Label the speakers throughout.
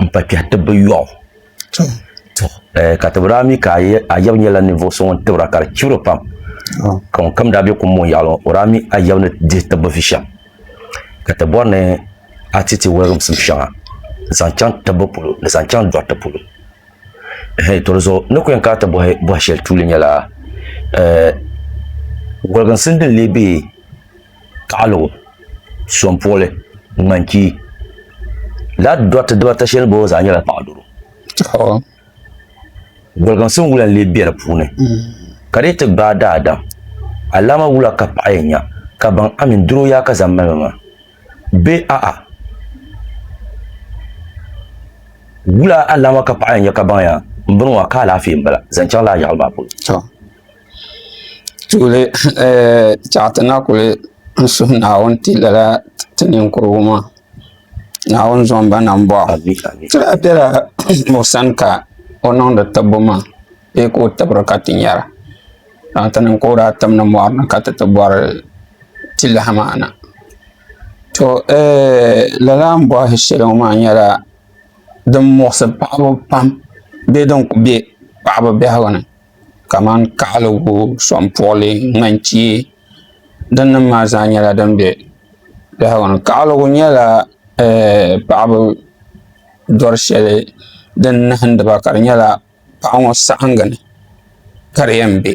Speaker 1: n pa kpɛhi tib bi yɔɣu ka tibira mi ka ayab nyɛla ninvuɣu so ŋun tibira ka di chibiri pam ka ŋun kam daa bɛ kum ŋɔ yaɣali o daa mi ayab ni dihi tibbi vi shɛm ka ti bɔri ni a ti ti wɔlimsim shɛŋa n zaŋ chaŋ tibbu polo ni zaŋ chaŋ dɔriti polo to di zuɣu ni ku yɛn kana ti bɔhi bɔhi shɛli tuuli nyɛla wɔliginsim din lee bɛ kaɣiligu, sompuɣili, ŋmanchii. Laa dɔriti dibaata shɛli bɔɔ zaa nyɛla paɣidoro. Goliginsim wula n-lee be di puuni, ka di yi ti gbaai daadam, alaama wula ka paɣa yɛn nya ka baŋ a mini doro yaa ka zaŋ mali ma maa? Bee a'a, wula alaama ka paɣa yɛn nya ka baŋ yaa m-bɔŋɔ maa ka alaafee m-bala zaŋ chaŋ laa yaɣili maa polo?
Speaker 2: tuuli tiɛɣu ti na kuli suhu Naawuni ti lala ti ninkurigu maa Naawuni zaŋ ba na bɔŋ ti lahi bela o sani ka o niŋdi tibbu maa bee ka o tibira ka ti nyara ka ti niŋ ka o daa tim ni mɔri ni ka ti ti bɔri ti lahi maa na to ɛɛh lala ni bɔhi shɛli ŋɔ maa nyɛla din muɣisi paɣaba pam bee din kuli be paɣaba biɛhigu ni kamani kaɣaligu soŋpuɣili ŋanchee din nim maa zaa nyɛla din bɛ biɛhagu ni kaɣaligu nyɛla paɣaba doli shɛli din nahindiba ka di nyɛla paɣa ŋo saɣangi ni ka di yɛn bɛ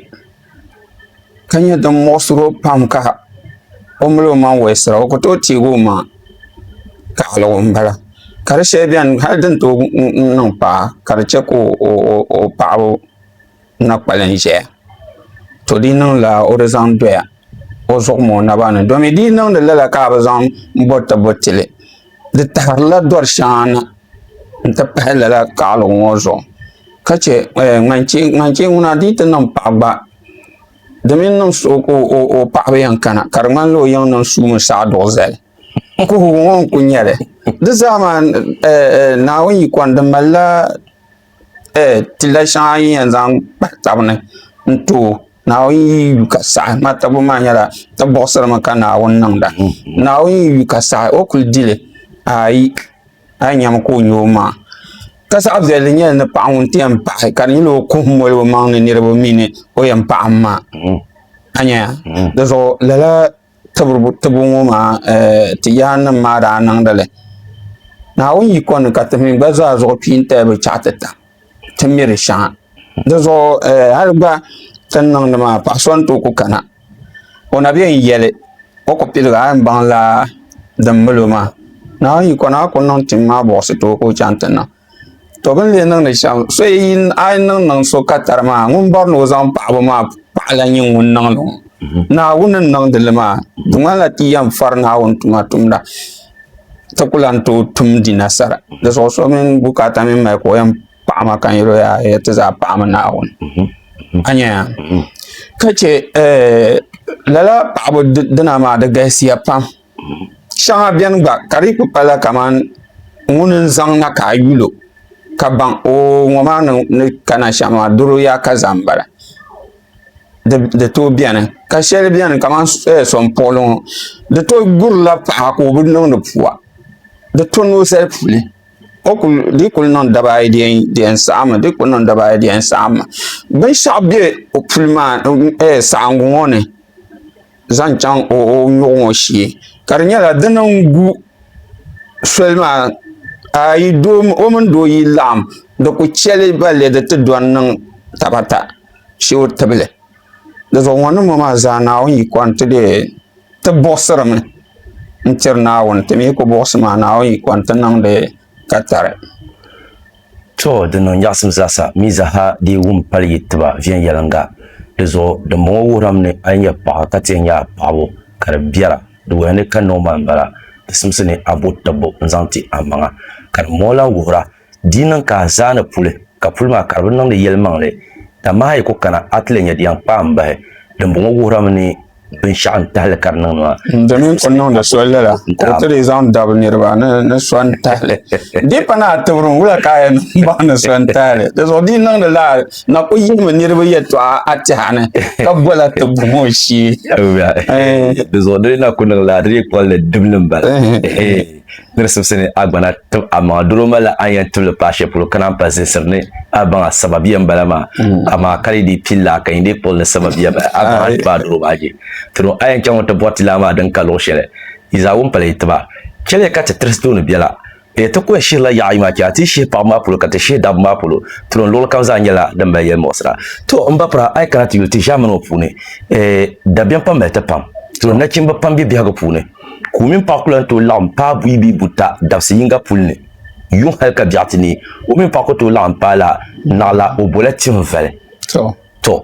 Speaker 2: ka nyɛ din muɣisiri o pam ka o mali o maŋ wolisira o ku tooi teegi o maŋa taɣaligu n bala ka di shɛli biɛni hali din tooi niŋ paɣa ka di chɛ ka o paɣaba na kpalim ʒɛya to di niŋla o di zaŋ doya o zuɣu mini o naba ni domi di yi niŋdi lala ka a bi zaŋ boti boti li di taɣarila dori shɛŋa na n ti pahi lala taɣaligu ŋɔ zuɣu ka chɛ ŋan chɛ ŋuna di yi ti niŋ paɣa gba Di mini niŋ suhu ka o paɣaba yɛn kana ka di ŋmanila o yiŋ niŋ suu mini saɣa duɣu zali n kuhigu ŋo n ku nyɛli di zaa maa Naawuni yiko ni di malila tilla shɛŋa yi ni yɛn zaŋ kpahi tabi ni n too Naawuni yi yu ka saɣi n ŋmanila tabibu maa nyɛla ti buɣusiri mi ka Naawuni niŋda Naawuni yi yu ka saɣi o kuli dili aai a yi nyɛmi ka o nyɛ o maŋa ka zaɣ viɛlli nyɛli ni paɣa ŋun ti yɛn paɣi ka di nyɛla o kuhum moli o maŋ ni niraba mini o yɛn paɣam maa a nyɛya dizuɣu lala tibu ŋo maa ti yaari nim maa daa niŋdili naawuni yiko ni ka ti mii gba zaa zuɣu pii n tali bi chɛɣu ti ta ti miri shɛŋa di zuɣu hali gba ti ni niŋdi maa paɣa so n tooi ku kana o na biɛn yɛli o ku piligi a ni baŋla din milo maa naawuni yiko na a ku niŋ tim maa buɣisi tooi ka o chɛŋ ti niŋ to bi ni lee niŋdi shɛm a yi niŋ niŋ so ka tari maa ŋun bɔri ni o zaŋ paɣaba maa paɣa lahi nyɛ ŋun niŋdi ŋɔ naawuni n niŋdili maa di ŋmanila ti yɛn fari naawuni tuma tumda ti ku lahi tooi tumdi nasara di zuɣu so mini bukaata mini mali ka o yɛn paɣi ma ka n yɛli o yaa hee ti zaa paɣimi Naawuni a nyɛya ka chɛ eh, lala paɣaba dina maa di galisiya pam shɛŋa bɛni gba ka di ku pala kamani ŋuni n zaŋ na ka a yulo ka baŋ o ŋɔ maa ni kana shɛm maa doro yaa ka zaa n bala di tooi biɛni ka shɛli biɛni kamani sonpuɣuli ŋo di to gurila paɣa ka o bi niŋdi pua di to noo zali puuni di yi kuli niŋ dabaa ayi di yɛn saɣammi binshaɣu bɛ o puli maa saɣangi ŋo ni zaŋ chɛŋ o nyoɣu ŋo shee ka di nyɛla dini n gu soli maa o mini doo yi laɣam di ku chɛli balli di ti do n niŋ tabata shuri tibili di zuɣu ŋɔ niŋbu maa zaa naawuni yi kɔni ti dee ti buɣisiri mi n tiri naawuni ti mi yi ku buɣisi maa naawuni yi kɔni ti niŋdi ka tari
Speaker 1: to din niŋ nyaɣisim zaa sa mi zaa ha dee wum pali yi tiba viɛnyɛliŋga di zuɣu din bɔŋɔ wuhiram ni a yi nyɛ paɣa ka ti yɛn nyɛ a paɣabu ka di biɛra di wuhiya ni ka niŋ maa m-bala di simsi ni a bo tibbu n-zaŋ ti a maŋa ka din bɔŋɔ lahi wuhira Di niŋ ka a zaa ni puli, ka puli maa ka di bi niŋdi yɛlimaŋli. Dama a yi ku kana, a ti lee nya di yɛn kpaai m-bahi. Dimbɔŋɔ wuhirimi ni binshɛɣu n-tahi li ka di niŋdi maa. N di mini o niŋdi
Speaker 2: so lala, ka o ti lee zaŋ dabi niriba ni so n-tahi li. Di pa naai tibiri n wula ka a yɛn niŋ bahi ni so n-tahi li. Di zuɣu di yi niŋdi la, n na ku yihimi niriba yɛtɔɣa a tɛha ni, ka bo la ti bom o shee.
Speaker 1: Di zuɣu di ni na ku niŋ la, di dii kpɔli ni dibili m-bala. ni di simsi ni a gbana tib a maŋa doro malila a ni yɛn tibili paai shɛli polo ka naan pa zinsiri ni a baŋa sababiya m-bala maa amaa ka di dii pili laa ka yi ni kpuɣili ni sababiya bahi a baŋa tiba a doro maa je tino a yɛn chaŋ n-ti bɔri ti laa maa din ka luɣ shɛli yi zaa wum pala yi tiba chɛliya ka ti tirisi tooni bela ya ti kɔya shihirila yaɣa ayi maa chɛ a ti yi shihi paɣiba maa polo ka ti shihi dabba maa polo tino luɣili kam zaa nyɛla din mali yɛlimuɣisira to m ba pira a yi kana ti yuli ti ʒiɛmani ŋɔ puuni dabiɛm pam mali ti pam tino nachimba pam be biɛhigu puuni ka o mini paɣa ku lahi tooi laɣim paai buyi bee buta dabisi yiŋga puli ni. Yuŋ hali ka biɛɣu ti neei, o mini paɣa ku tooi laɣim paai la naɣila o bola tihim vali. Tɔ!